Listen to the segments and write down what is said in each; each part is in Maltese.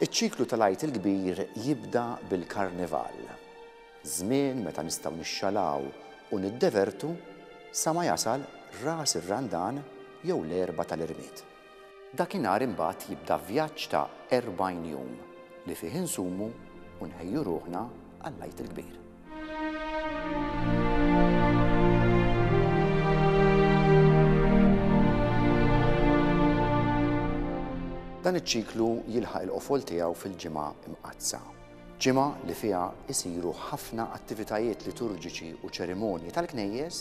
Iċ-ċiklu tal-Għid il-Kbir jibda bil-Karnival, żmien meta nistgħu nixxalaw u niddevertu sa ma jasal Ras ir-Randan jew l-Erbgħa tal-Irmied. Dakinhar imbagħad jibda vjaġġ ta' erbgħin jum li fih insumu u nħejju ruħna għall-Għid il-Kbir. Dan iċ-ċiklu jilħaq il-qofol tiegħu fil-ġimgħa imqaddsa. Ġimgħa li fiha jsiru ħafna attivitajiet liturġiċi u ċerimonji tal-knejjes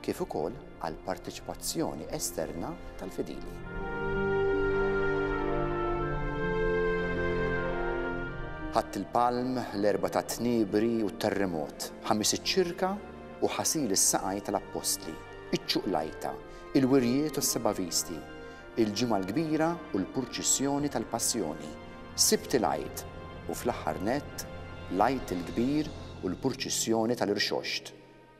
kif ukoll għall-parteċipazzjoni esterna tal-fidili. Ħadd il-palm, l-erba' tat-tniebri u t-terremot, ħamis iċ-ċirka u ħasil is-saqajn tal-appostli, iċ-ċuqlajta, il-wirjiet u s-seba' visti, il-Ġimgħa l-Kbira u l-purċissjoni tal-Passjoni, Sibt il-Għid u fl-aħħar nett l-Għid il-Kbir u l-purċissjoni tal-Irxoxt.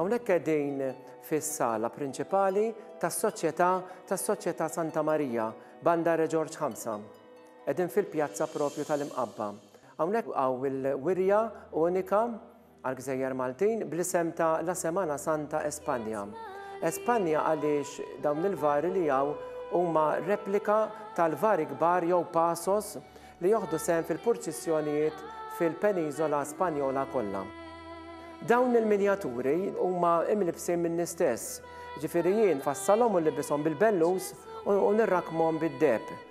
Hawnhekk qegħdin fis-sala prinċipali tas-Soċjetà tas-Soċjetà Santa Marija, Banda Re Ġorġ Ħamsa. Qegħdin fil-pjazza proprju tal-Imqabba. Hawnhekk hawn il-wirja unika għall-gżejjer Maltin bl-isem ta' La Semana Santa España. España għaliex dawn il-vari li hawn huma replika tal-vari kbar jew pasos li joħdu sehem fil-purċissjonijiet fil-peniżola Spanjola kollha. Dawn il-minjaturi huma imlibsin minni stess, jiġifieri jien nfassalhom u nlibbishom bil-bellus u nirrakkmhom bid-deheb.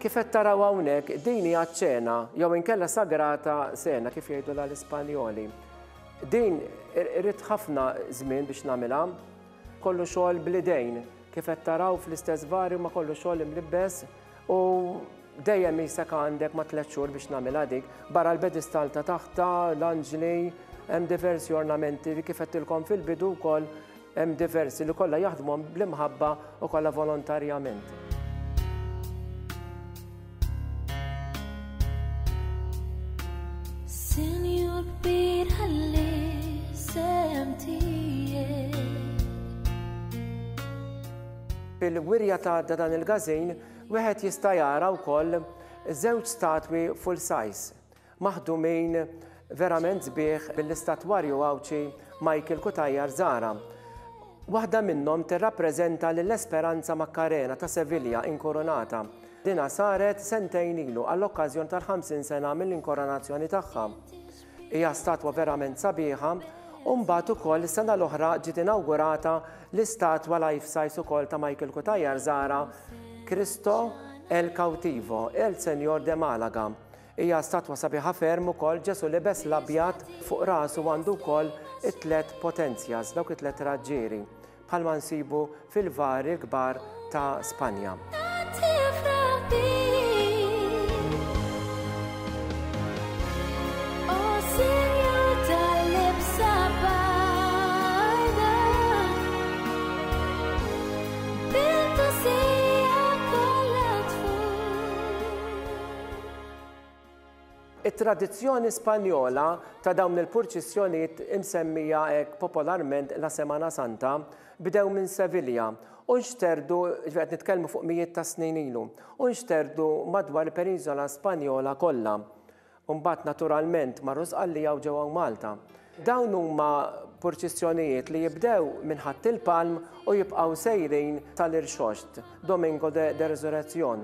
Kif qed taraw hawnhekk, din hija ċ-ċena, jew inkella sagrata cena kif jgħidulha l-Ispanjoli. Din irrid ħafna żmien biex nagħmilha, kollu xogħol bl-idejn, kif qed taraw fl-istess varju ma kollu xogħol imlibbes u dejjem isek għandek ma tliet xhur biex nagħmilha dik. Barra l-pedestal ta' taħta, l-anġli, hemm diversi ornamenti li kif qedtilkom fil-bidu wkoll Hemm diversi li kollha jaħdmuhom bl-imħabba u kollha volontarjament. Bil-wirja ta' dan il-gazin, wieħed jista' jara wkoll żewġ statwi full size. maħdumin verament sbieħ mill-istatwarju Għawdxi Michael Cutajar Zahra. Waħda minnhom tirrappreżenta lil Esperanza Maccarena ta' Sevilla inkoronata. Dina saret sentejn ilu għall-okkażjon tal-50 sena mill-inkoronazzjoni tagħha. Hija statwa verament sabiħa u mbagħad ukoll is-sena l-oħra ġiet inawgurata l-istatwa life size ukoll ta' Michael Cutajar Zahra Cristo El Cautivo, El Senjor de Malaga. Hija statwa sabiħa ferm ukoll Ġesù libes l-abjad fuq rasu għandu wkoll it-tliet potenzjas, dawk it-tliet raġġieri, bħalma nsibu fil-vari kbar ta' Spanja. It-tradizzjoni Spanjola ta' dawn il-purċissjonijiet imsemmija hekk popolarment La Semana Santa bdew minn Sevilja u nxterdu, ġifieri qed nitkellmu fuq mijiet ta' snin ilu, u nxterdu madwar il-Peniżola Spanjola kollha. U mbagħad naturalment marru Sqallija u ġew hawn Malta. Dawn huma purċissjonijiet li jibdew minn Ħatt il-Palm u jibqgħu sejrin sal-Irxoxt, Domingo de de Resurrección.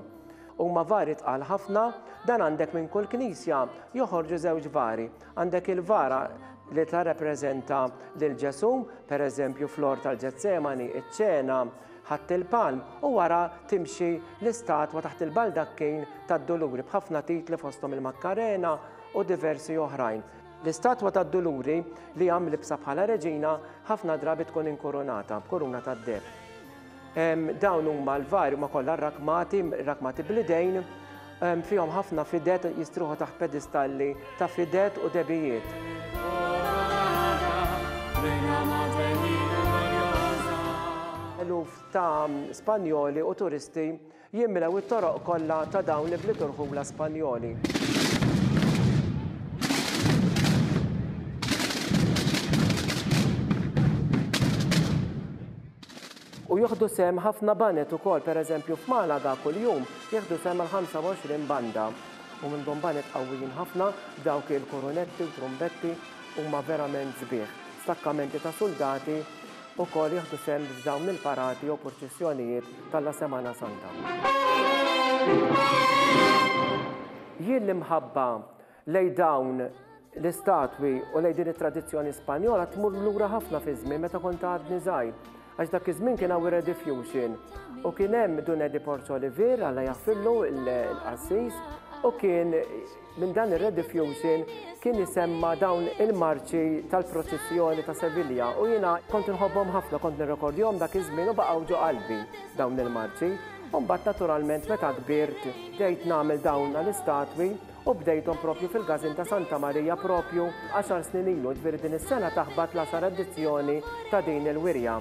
Huma vari tqal ħafna, dan għandek minn kull knisja joħorġu żewġ vari. Għandek il-vara li tirrappreżenta lil Ġesù, pereżempju fl-Għor tal-Ġetsemani, iċ-Ċena, Ħatt il-Palm, u wara timxi l-istatwa taħt il-baldakkin tad-Duluri b'ħafna titli fosthom il-Makkarena u diversi oħrajn. L-istatwa tad-Duluri, li hija mlibbsa bħala reġina, ħafna drabi tkun inkurunata b'kuruna tad-deheb. Dawn huma l-vari huma kollha rrakmati, rrakmati bl-idejn, fihom ħafna fidet jistruħu taħt pedistalli ta' fidet u debijiet. Eluf ta' Spanjoli u turisti Jimlew it-toroq kollha ta' dawn l-ibliet u rħula Spanjoli. U jieħdu sehem ħafna banet ukoll, pereżempju f'Malaga kuljum jieħdu sehem mal-25 banda. U minnhom banet qawwijin ħafna, dawk il-kurunetti u trumbetti huma verament sbieħ. Stakkamenti ta' suldati ukoll jieħdu sehem f'dawn il-parati jew purċissjonijiet Talla Semana Santa. Jien l-imħabba lej dawn l-istatwi u lej din it-tradizzjoni Spanjola tmur lura ħafna fi żmien meta kont għadni żgħir. Għax dak iż-żmien kien hawn rediffusion u kien hemm Dun Edi Porzo Olivier alla jaħfirlu l-qassis u kien Minn dan ir-rediffusion kien isemma' dawn il-marċi tal-proċissjoni ta' Sevilja u jiena kont inħobbhom ħafna, kont nirrekordjhom dak iż-żmien u baqgħu ġo qalbi dawn il-marċi. U mbagħad naturalment meta kbirt bdejt nagħmel dawn l-istatwi u bdejthom proprju fil-Każin ta' Santa Marija proprju għaxar snin ilu, jiġifieri din is-sena taħbat l-għaxar edizzjoni ta' din il-wirja.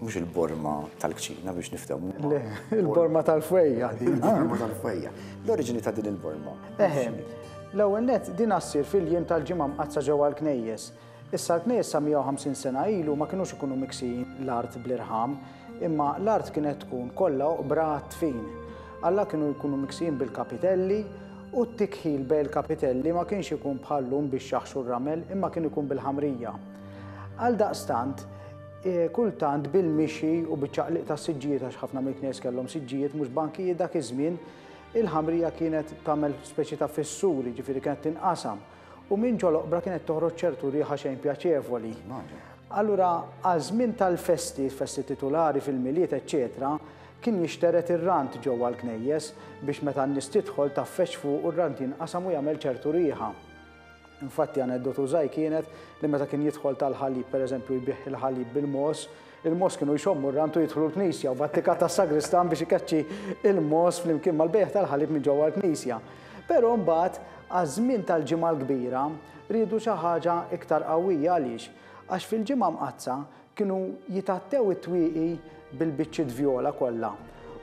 Mhux il-borma tal-kċina biex niftehmu. Le, il-borma tal-fwejja din. Il-borma tal-fwejja. L-oriġini ta' din il-borma. Eħe, l-ewwel net din assir fil-jiem tal-ġimgħa mqaddsa ġewwa l-knejjes. Issa l-knejjes sa 150 sena ilu ma kinux ikunu miksijin l-art bl-irħam, imma l-art kienet tkun kollha oqbra għat-tfin. Alla kienu jkunu miksijin bil-kapitelli u t-tikħil bejn il-kapitelli ma kienx ikun bħal lum biex jaħxu r-ramel imma kien ikun bil-ħamrija. Għaldaqstant, Kultant bil-mixi u biċ-ċaqliq tas-siġġijiet għax ħafna mill-knejjes kellhom siġġijiet mhux bankijiet dak iż-żmien, il-ħamrija kienet tagħmel speċi ta' fissuri, jiġifieri kienet tinqasam, u minn ġol-oqbra kienet toħroġ ċertu riħa xejn pjaċevoli. Allura għaż-żmien tal-festi, festi titulari, fil-Milied, eċċetera, kien jixtered ir-rant ġewwa l-knejjes biex meta n-nies tidħol taffex fuqu r-rant jinqasam u jagħmel ċertu riħa. Infatti aneddotu żgħir kienet li meta kien jidħol tal-ħalib per eżempju jbigħ il-ħalib bil-mogħoż, il-mogħoż kienu jxommu r-rant u jidħlu l-knisja u b'attika tas-sagristan biex ikeċċi il-mogħoż flimkien mal-bejgħ tal-ħalib minn ġewwa l-knisja. Però mbagħad għaż-żmien tal-Ġimgħa l-Kbira riedu xi ħaġa iktar qawwija għaliex? Għax fil-Ġimgħa Mqaddsa Kienu jitgħattew it-twieqi bil-biċċiet vjola kollha,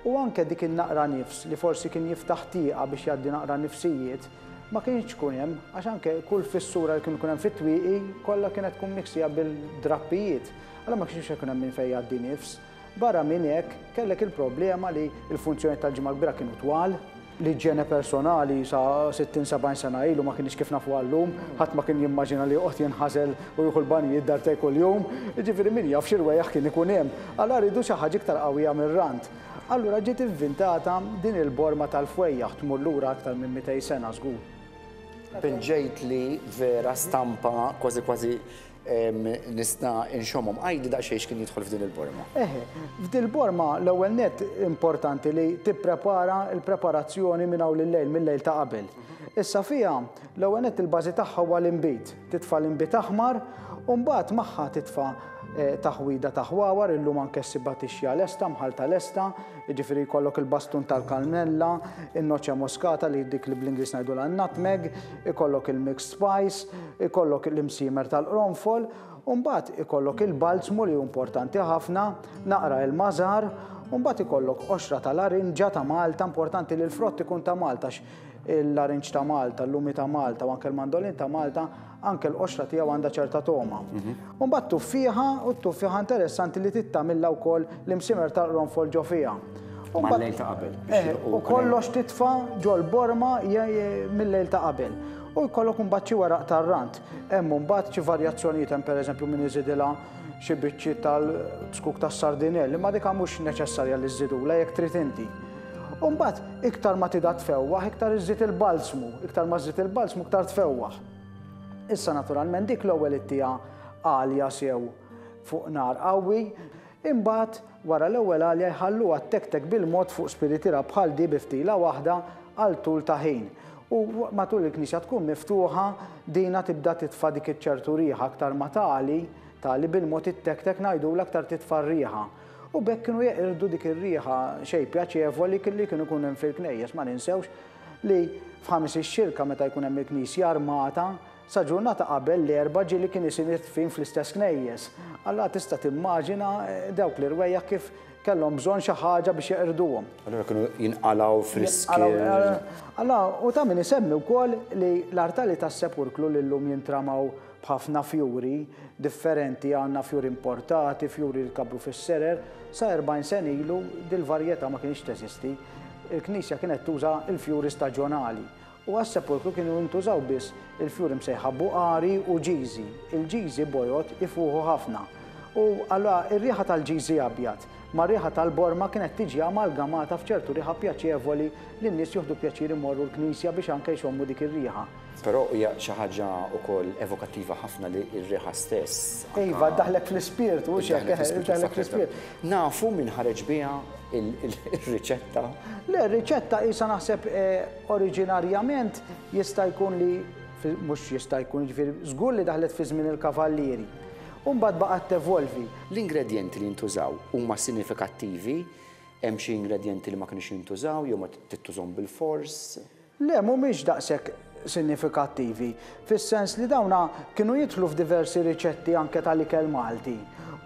u anke dik in-naqra nifs li forsi kien jiftaħ tieqa biex jgħaddi naqra nifsijiet, ma kinitx tkun hemm, għax anke kull fissura li kien ikun hemm fit-twieqi kollha kienet tkun miksija bil-drappijiet, allura ma kienx se jkun hemm minn fejn jgħaddi nifs. Barra minn hekk, kellek il-problema li l-funzjonijiet tal-Ġimgħa l-Kbira kienu twal, L-iġjene personali sa 60, 70 sena ilu ma kinitx kif nafuha llum. Ħadd ma kien jimmaġina li joqgħod jinħażel u jieħu l-banjijiet darbtejn kuljum. Jiġifieri min jaf xi rwejjaħ kien ikun hemm. Għala riedu xi ħaġa iktar qawwija mir-rant? Allura ġiet invintata din il-borma tal-fwejjaħ, tmur lura aktar minn mitej sena żgur. Pinġejtli vera stampa kważi kważi Nista' inxommhom. Għidli daqsxejn x'kien jidħol f'din il-borma. Eħe, f'dil borma l-ewwel nett importanti li tipprepara l-preparazzjoni minn hawn lil-lejl, mil-lejl ta' qabel. Issa fiha l-ewwel nett il-bażi tagħha huwa l-inbid. Titfa' l-inbid aħmar u mbagħad magħha titfa' taħwida ta' ħwawar, illum anke ssibha tixja lesta, mħallta lesta, jiġifieri jkollok il-bastun tal-kannella, in-noċċe moskata li dik li bl-Ingliż ngħidulha n-nutmeg, Ikollok il-mixed spice, ikollok l-imsiemer tal-qronfol, u mbagħad ikollok il-balzmu li hu importanti ħafna, naqra il-mażar, u mbagħad ikollok qoxra ta' larinġa ta' Malta, importanti li l-frott ikun ta' Malta il-larinġ ta' Malta, l-lumi ta' Malta u anke l-mandolin ta' Malta, anke l-qoxra tiegħu għandha ċerta togħma. Mhm. U mbagħad tuffieħa, u t-tuffieħa interessanti li trid tagħmilha wkoll l-imsimer tal-qronfol ġo fiha. U mbagħad Mal-lejl ta' qabel. biex Eh, jilqu u wkoll. kollox titfa' ġol-borma je- je- mill-lejl ta' qabel. U jkollok imbagħad xi weraq tar-rant. Hemm imbagħad xi varjazzjonijiet hemm pereżempju min iżidilha xi biċċiet tal-bskuk tas-sardinell, imma dik mhux neċessarja li żżidulha jekk trid inti. U mbagħad iktar ma tidha tfewwaħ, iktar iżżid il-balzmu, iktar ma żżid il-balzmu iktar tfewwaħ. Issa naturalment dik l-ewwel ittieha għalja sew fuq nar qawwi, imbagħad wara l-ewwel għalja jħalluha ttektek bil-mod fuq spiritira bħal di bi ftila waħda għal tul ta' ħin. U matul il-knisja tkun miftuħa dina tibda titfa' dik iċ-ċertu riħa aktar ma tagħli, tagħli bil-mod ittektek ngħidula aktar titfa' r-riħa. U b'hekk kienu jeqirdu dik ir-riħa xejn pjaċevoli li kien ikun hemm fil-knejjes, ma ninsewx, li f'Ħamis ix-Xirka meta jkun hemm il-Knisja armata, sa ġurnata qabel l-Erbgħa ġieli kien isir id-dfin fl-istess knejjes. Allura tista' timmaġina dawk l-irwejjaħ kif kellhom bżonn xi ħaġa biex jeqirduhom. Allura kienu jinqalgħu friski. Allura hu ta' min isemmi wkoll li l-artali tas-Sepulklu li llum jintramaw b'ħafna fjuri differenti, għandna fjuri importati, fjuri li tkabbru fis-serer, sa 40 sena ilu dil-varjetà ma kinitx teżisti. Il-knisja kienet tuża l-fjuri staġjonali u għas-sepulkru kienu jintużaw biss il-fjuri msejħa buqari u ġiżi. Il-ġiżi bojod ifuħu ħafna u allura r-riħa tal-ġiżi abjad mar-riħa tal-borma kienet tiġi amalgamata f'ċertu riħa pjaċevoli li n-nies joħdu pjaċir imorru l-knisja biex anke jxommu dik ir-riħa. Però hija xi ħaġa wkoll evokattiva ħafna li r-riħa stess anka. Iva, ddaħħlek fl-ispirtu, mhux hekk, eħe, ddaħħlek fl-ispirtu. Nafu min ħareġ biha r-riċetta? Le, r-riċetta qisha naħseb oriġinarjament jista' jkun li mhux jista' jkun, jiġifieri żgur li daħlet fi żmien il-kavallieri. U mbagħad baqgħet tevolvi. L-ingredjenti li jintużaw huma sinifikattivi? Hemm xi ingredjenti li ma kinux jintużaw jew ma tittużhom bilfors? Le, mhumiex daqshekk sinifikattivi, fis-sens li dawna kienu jidħlu f'diversi riċetti anke tal-ikel Malti,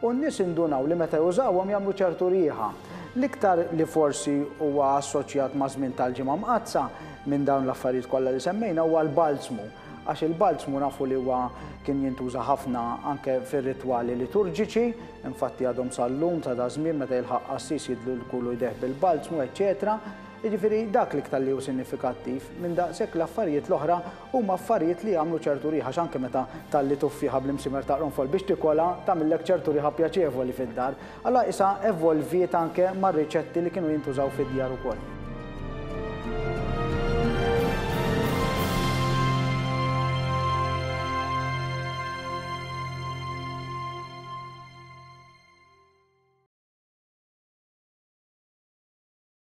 u n-nies indunaw li meta jużawhom jagħmlu ċertu riħa. L-iktar li forsi huwa assoċjat maż-żmien tal-Ġimgħa Mqaddsa minn dawn l-affarijiet kollha li semmejna huwa l-balzmu, għax il-balzmu nafu li huwa kien jintuża ħafna anke fir-ritwali liturġiċi, infatti għadhom sal-lum sa daż-żmien meta jilħaq qassis jidlu lkulu jdejh bil-balzmu, eċċetera. Jiġifieri dak l-iktar li hu sinnifikattiv, minn daqshekk l-affarijiet l-oħra huma affarijiet li jagħmlu ċertu riħa x'anke meta tgħalli tuffieħa bl-imsimer ta' qrunfol biex tikolha tagħmillek ċertu riħa pjaċevoli fid-dar. Alla qisha evolviet anke mar-riċetti li kienu jintużaw fid-djar ukoll.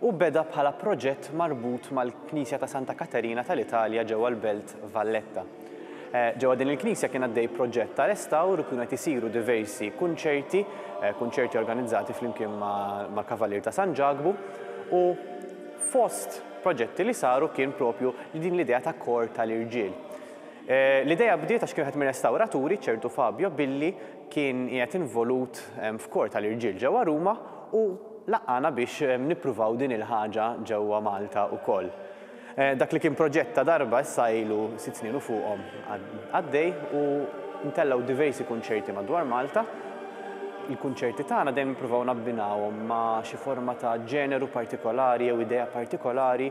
u beda bħala proġett marbut mal-Knisja ta' Santa Katerina tal-Italja ġewwa l-Belt Valletta. Ġewwa din il-knisja kien għaddej proġett ta' restawr u kienu qed isiru diversi kunċerti, kunċerti organizzati flimkien ma' Kavalier ta' San Ġakbu u fost proġetti li saru kien propju din l-idea ta' kor tal-irġiel. L-idea bdiet għax kien wieħed mir-restawraturi, ċertu Fabio, billi kien qiegħed involut f'kor tal-irġiel ġewwa Ruma u laqqagħna biex nippruvaw din il-ħaġa ġewwa Malta wkoll. Dak li kien proġett ta' darba issa ilu sitt snin u fuqhom għaddej u ntellgħu diversi kunċerti madwar Malta. Il-kunċerti tagħna dejjem nippruvaw nabbinawhom ma' xi forma ta' ġeneru partikolari jew idea partikolari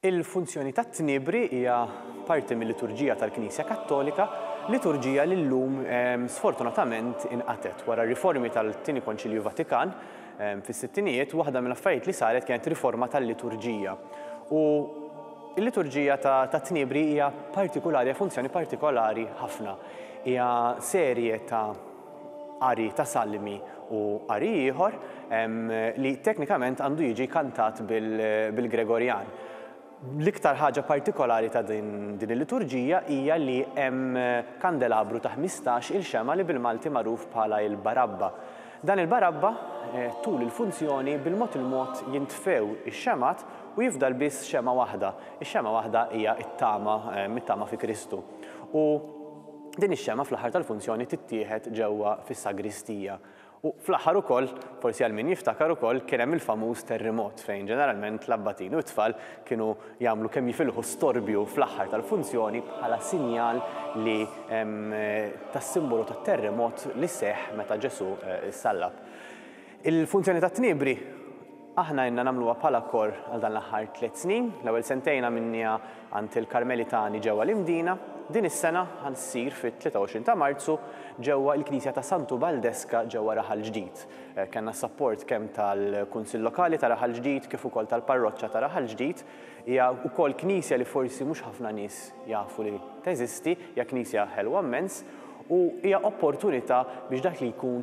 Il-funzjoni tat-tniebri hija parti mil-liturġija tal-Knisja Kattolika, liturġija li llum sfortunatament inqatgħet. Wara r-riformi tal-Tieni Konċilju Vatikan fis-sittinijiet, waħda mill-affarijiet li saret kienet riforma tal-liturġija. U l-liturġija tat-tniebri hija partikulari, hija funzjoni partikolari ħafna. Hija serje ta' qari ta' salmi u qari ieħor li teknikament għandu jiġi kantat bil-Gregorjan. L-iktar ħaġa partikolari ta' din il-liturġija hija li hemm kandelabru ta' ħmistax il xemgħa li bil-Malti magħruf bħala il-barabba. Dan il-barabba tul il-funzjoni bil-mod il-mod jintfew ix-xemgħat u jifdal biss xemgħa waħda. Ix-xemgħa waħda hija t-tama, it-tama fi Kristu. U Din ix-xemgħa fl-aħħar tal-funzjoni tittieħed ġewwa fis-sagristija. U fl-aħħar ukoll, forsi għal min jiftakar ukoll, kien hemm il-famuż terrimot fejn ġeneralment l-abbatini u t-tfal kienu jagħmlu kemm jifilħu storbju fl-aħħar tal-funzjoni bħala sinjal li tas-simbolu tat-terrimot li seħħ meta Ġesù ssallab. Il-funzjoni tat-Tniebri aħna ilna nagħmluha bħala korr għal dan l-aħħar tliet snin. L-ewwel sentejn għamilniha għand il-Karmelitani ġewwa l-Imdina. Din is-sena ħa ssir fit-23 ta' Marzu ġewwa l-Knisja ta' Santu Baldeska ġewwa Raħal Ġdid. Kellna s-sapport kemm tal-Kunsill Lokali ta' Raħal Ġdid kif ukoll tal-Parroċċa ta' Raħal Ġdid. Hija wkoll knisja li forsi mhux ħafna nies jafu li teżisti, hija knisja ħelwa mmens u hija opportunità biex dak li jkun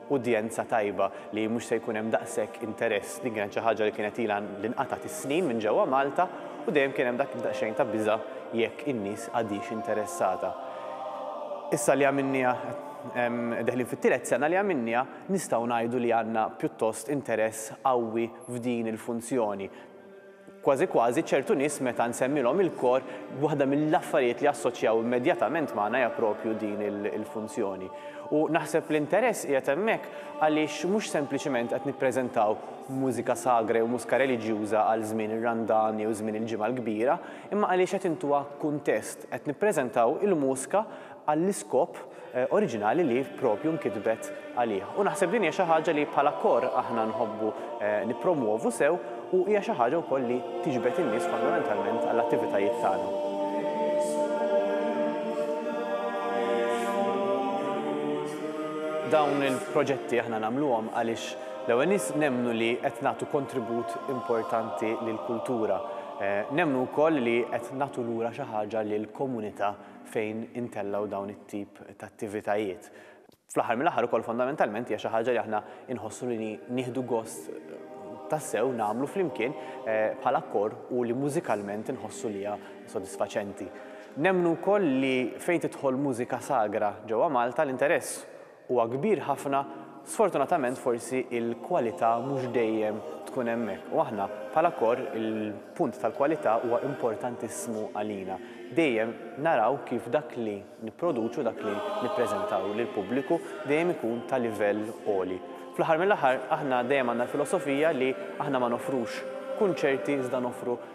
udjenza tajba li mhux se jkun hemm daqshekk interess. Din kienet xi ħaġa li kienet ilha li nqatgħet is-snin minn ġewwa Malta u dejjem kien hemm dak id-daqsxejn ta' biża' jekk in-nies għadhiex interessata. Issa li għamilniha, deħlin fit-tielet sena li għamilniha, nistgħu ngħidu li għandna pjuttost interess qawwi f'din il-funzjoni. Kważi kważi ċertu nies meta nsemmilhom il-kor, waħda mill-affarijiet li assoċjaw immedjatament magħna hija proprju din il-funzjoni. U naħseb l-interess qiegħed hemmhekk għaliex mhux sempliċement qed nippreżentaw mużika sagra jew mużka reliġjuża għal żmien ir-Randan jew żmien il-Ġimgħa l-Kbira, imma għaliex qed intuha kuntest, qed nippreżentaw il-mużka għall-iskop oriġinali li propju nkitbet għalih. U naħseb din hija xi ħaġa li bħala kor aħna nħobbu nippromwovu sew u hija xi ħaġa wkoll li tiġbed in-nies fondamentalment għall-attivitajiet tagħna. Dawn il-proġetti aħna nagħmluhom għaliex l-ewwel nies nemmnu li qed nagħtu kontribut importanti lill-kultura. Nemmnu wkoll li qed nagħtu lura xi ħaġa lill-komunità fejn intellgħu dawn it-tip ta' attivitajiet. Fl-aħħar mill-aħħar ukoll fondamentalment hija xi ħaġa li aħna inħossu li nieħdu gost tassew nagħmlu flimkien bħala kor u li mużikalment inħossu li hija sodisfaċenti. Nemmnu wkoll li fejn tidħol mużika sagra ġewwa Malta l-interess huwa kbir ħafna, sfortunatament forsi l-kwalità mhux dejjem tkun hemmhekk. U aħna bħala kor il-punt tal-kwalità huwa importantissimu għalina. Dejjem naraw kif dak li nipproduċu, dak li nippreżentaw lill-pubbliku dejjem ikun ta' livell għoli. Fl-aħħar mill-aħħar aħna dejjem għandna l-filosofija li aħna ma noffrux kunċerti iżda noffru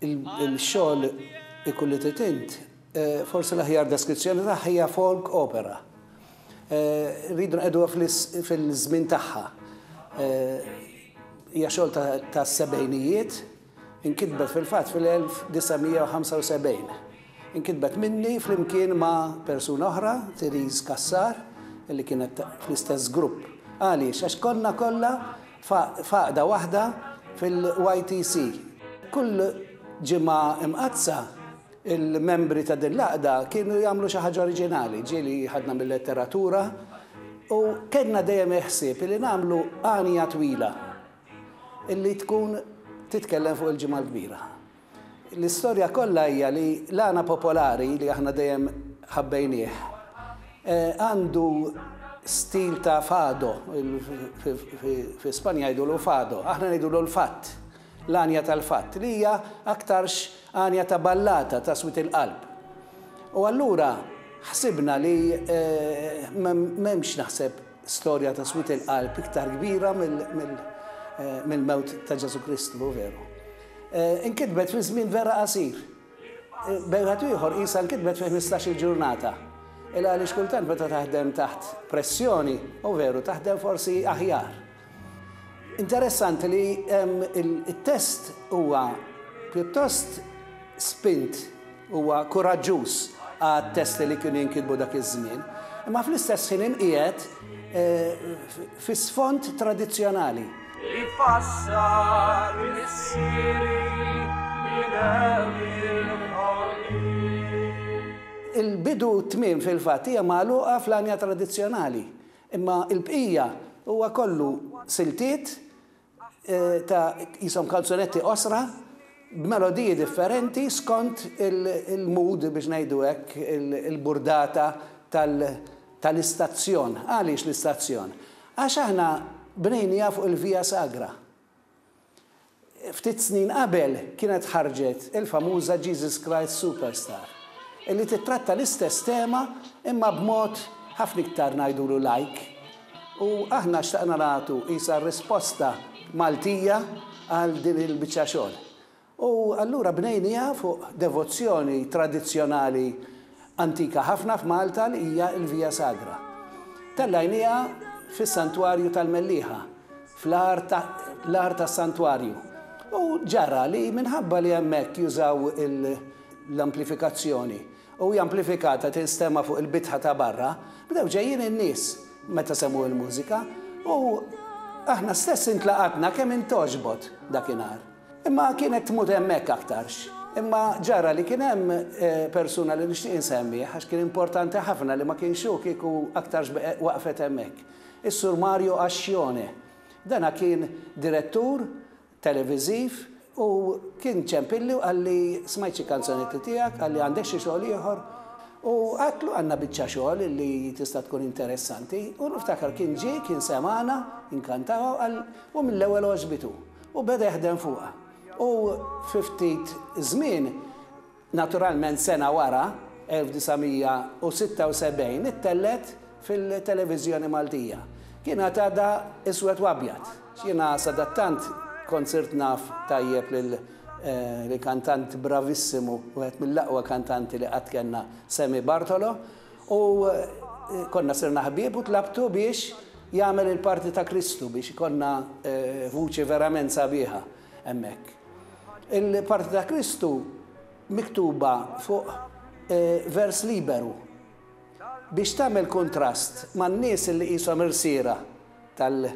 Il-xogħol Ikun li trid int, forsi l-aħjar deskrizzjoni tagħha hija folk opera. Rridu nqegħduha fil-żmien tagħha. Hija xogħol tas-sebgħinijiet, inkitbet fil-fatt fil-1975. Inkitbet minni flimkien ma' persuna oħra, Therese Cassar, li kienet fl-istess grupp. Għaliex? Għax konna kollha f'għaqda waħda fil-YTC. Kull Ġimgħa Imqaddsa, il-membri ta' din l-għaqda kienu jagħmlu xi ħaġa oriġinali, ġieli ħadna mil-letteratura u kellna dejjem il-ħsieb li nagħmlu għanja twila li tkun titkellem fuq il-Ġimgħa l-Kbira. L-istorja kollha hija li l-għana popolari li aħna dejjem ħabbejnieh għandu stil ta' fado, fi Spanja jgħidulu fado, aħna ngħidulu l-fatt, l-għanja tal-fatt, li hija aktarx għanja ta' ballata, ta' swied il-qalb. U allura ħsibna li m'hemmx naħseb, Storja ta' swied il-qalb iktar kbira mill-mewt ta' Ġesù Kristu, hu veru. Inkitbet fi żmien vera qasir. B'wieħed ieħor qisha nkitbet fi ħmistax-il ġurnata. Il għaliex kultant meta taħdem taħt pressjoni, hu veru, taħdem forsi aħjar. Interessanti li t-test huwa pjuttost spint, huwa kuraġġuż għat-testi li kienu jinkitbu dak iż-żmien, imma fl-istess ħin inqiegħed fi sfond tradizzjonali. Ifassar missieri minn hemm il-ħolqien. Il-bidu u t-tmiem fil-fatt hija magħluqa fl-għanja tradizzjonali. Imma l-bqija huwa kollu siltiet ta' qishom kanzunetti qosra b'melodiji differenti skont il-mood biex ngħidu hekk, il-burdata tal-istazzjon. Għaliex l-istazzjon? Għax aħna bnejniha fuq il-Via Sagra. Ftit snin qabel kienet ħarġet il-famuża Jesus Christ Superstar, illi tittratta l-istess tema imma b'mod ħafna iktar ngħidulu lajk. U aħna xtaqna nagħtu qisha risposta Maltija għal din il-biċċa xogħol. U allura bnejniha fuq devozzjoni tradizzjonali Antika ħafna f'Malta hija l-Via Sagra. Tellajniha fis-Santwarju tal-Mellieħa, fl-agħar tas-Santwarju, u ġara li minħabba li hemmhekk jużaw l-amplifikazzjoni u hija amplifikata tinstema' fuq il-bitħa ta' barra, bdew ġejjin in-nies meta semgħu l-mużika u aħna stess intlaqatna kemm int togħġbot dakinhar. Imma kienet tmut hemmhekk aktarx. Imma ġara li kien hemm persuna li nixtieq insemmih għax kien importanti ħafna li ma kienx hu kieku aktarx waqfet hemmhekk. Is-Sur Mario Ascione. Dana kien direttur televiżiv u kien ċempilli u qalli smajt xi kanzonetti tiegħek, qalli għandek xi xogħol ieħor? U għedtlu għandna biċċa xogħol li tista' tkun interessanti u niftakar kien ġie kien semagħna, inkantata u qal u mill-ewwel għoġbitu. U beda jaħdem fuqha. U fi ftit żmien, naturalment sena wara, 1976, ittellgħet fil-televiżjoni Maltija. Kienet għadha iswed u abjad. Jiena sadattant kont sirt naf tajjeb lil kantant bravissimu, wieħed mill-aqwa kantanti li qatt kellna, Sammy Bartolo, U konna sirna ħbieb u tlabtu biex jagħmel il-parti ta' Kristu biex ikonna vuċi verament sabiħa hemmhekk. Il-parti ta' Kristu miktuba fuq vers liberu biex tagħmel kuntrast man-nies li qishom irsiera tal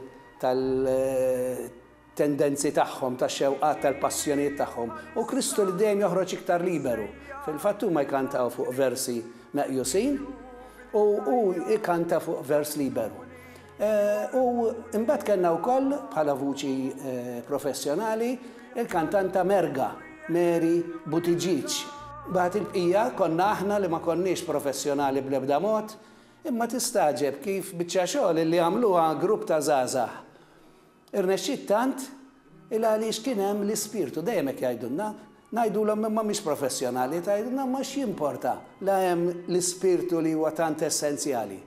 tendenzi tagħhom, tax-xewqat, tal-passjonijiet tagħhom, u Kristu li dejjem joħroġ iktar liberu. Fil-fatt huma jkantaw fuq versi meqjusin u hu jkanta fuq vers liberu. U imbagħad kellna wkoll bħala vuċi professjonali il-kantanta merga Mary Buttigieg. Mbagħad il-bqija konna aħna li ma konniex professjonali bl-ebda mod, imma tistagħġeb kif biċċa xogħol li għamluha grupp ta' żgħażagħ. Irnexxiet tant il għaliex kien hemm l-ispirtu, dejjem hekk jgħidulna, ngħidulhom imma mhix professjonali, tgħidilna imma x'jimporta la hemm l-ispirtu li huwa tant essenzjali.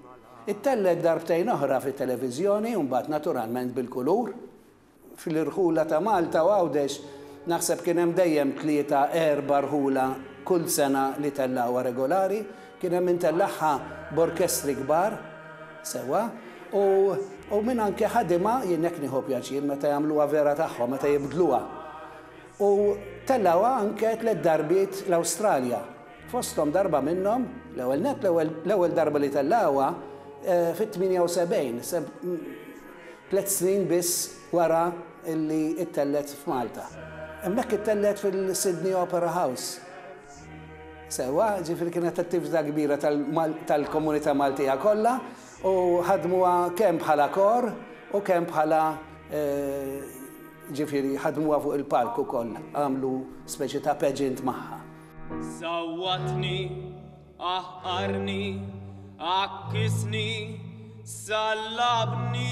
Ittellgħet darbtejn oħra fit-televiżjoni u mbagħad naturalment bil-kulur. Fl-irħula ta' Malta u Għawdex naħseb kien hemm dejjem tlieta, erba' rħula kull sena li tellgħuha regolari, Kien hemm min tellagħha b'orkestri kbar, sewwa, u u min anke ħadimha, jien hekk nieħu pjaċir meta jagħmluha vera tagħhom, meta jibdluha. U tellgħuha anke tliet darbiet l-Awstralja. Fosthom darba minnhom, l-ewwel nett l-ewwel l-ewwel darba li tellgħuha fit-78, se tliet snin biss wara li ttellgħet f'Malta. Hemmhekk ittellgħet fil-Sydney Opera House. Sewwa, jiġifieri kienet attività kbira tal-komunità Maltija kollha u ħadmuha kemm bħala kor u kemm bħala jiġifieri ħadmuha fuq il-palk ukoll, għamlu speċi ta' pageant magħha. Sawwatni, qahqarni, għakkisni, sallabni.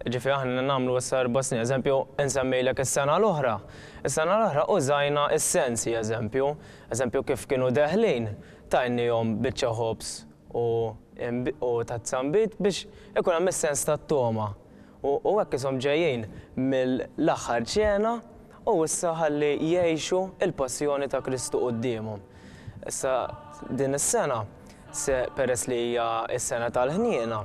Jiġifieri aħna nagħmlu issa erba' snin. Eżempju, insemmilek is-sena l-oħra. Is-sena l-oħra użajna s-sensi, eżempju. Eżempju, kif kienu deħlin, tajniehom biċċa ħobż u u tazza nbid biex ikun hemm is-sens tat-togħma. U u hekk ishom ġejjin mill-aħħar ċena u issa ħalli jgħixu l-passjoni ta' Kristu quddiemhom. Issa din is-sena. Se peress li hija s-sena tal-ħniena,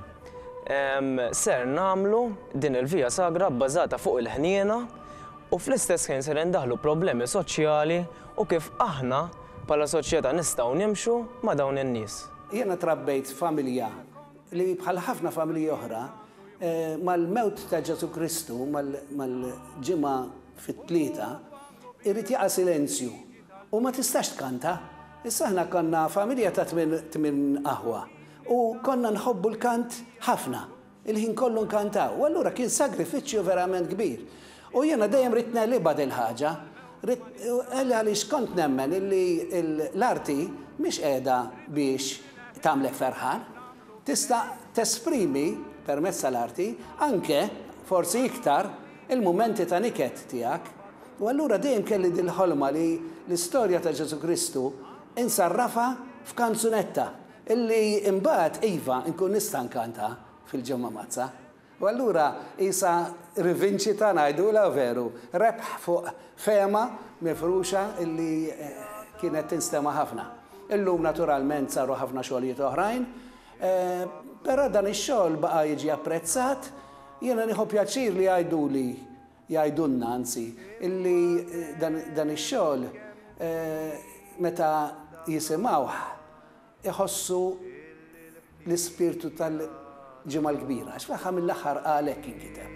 ser nagħmlu din il-Via Sagra bbażata fuq il-ħniena u fl-istess ħin ser indaħħlu problemi soċjali u kif aħna bħala soċjetà nistgħu nimxu ma' dawn in-nies. Jiena trabbejt f'familja li bħal ħafna familji oħra, mal-mewt ta' Ġesù Kristu, mal-Ġimgħa fit-Tlieta, irid jaqa' silenzju. U ma tistax tkanta. Issa aħna konna familja ta' tmien tmien aħwa u konna nħobbu l-kant ħafna. Il-ħin kollu nkantaw u allura kien sagrifiċċju verament kbir. U jiena dejjem ridt negħlibha dil-ħaġa. Ridt għal għaliex kont nemmen illi l-arti mhix qiegħda biex tagħmlek ferħan. Tista' tesprimi permezz tal-arti anke, forsi iktar, il-mumenti ta' niket tiegħek. U allura dejjem kelli dil-ħolma li l-istorja ta' Ġesù Kristu insarrafha f'kanzunetta illi imbagħad iva nkun nista' nkantha fil-Ġimgħa Mgħaddsa. U allura qisha rivinċita ngħidulha veru, rebħ fuq fehma mifruxa illi kienet tinstema' ħafna. Illum naturalment saru ħafna xogħlijiet oħrajn. Però dan ix-xogħol baqa' jiġi apprezzat. Jiena nieħu pjaċir li jgħiduli, jgħidulna anzi, illi dan ix-xogħol meta jisimgħuh iħossu l-ispirtu tal-Ġimgħa l-Kbira, għax fl-aħħar mill-aħħar għalhekk inkiteb.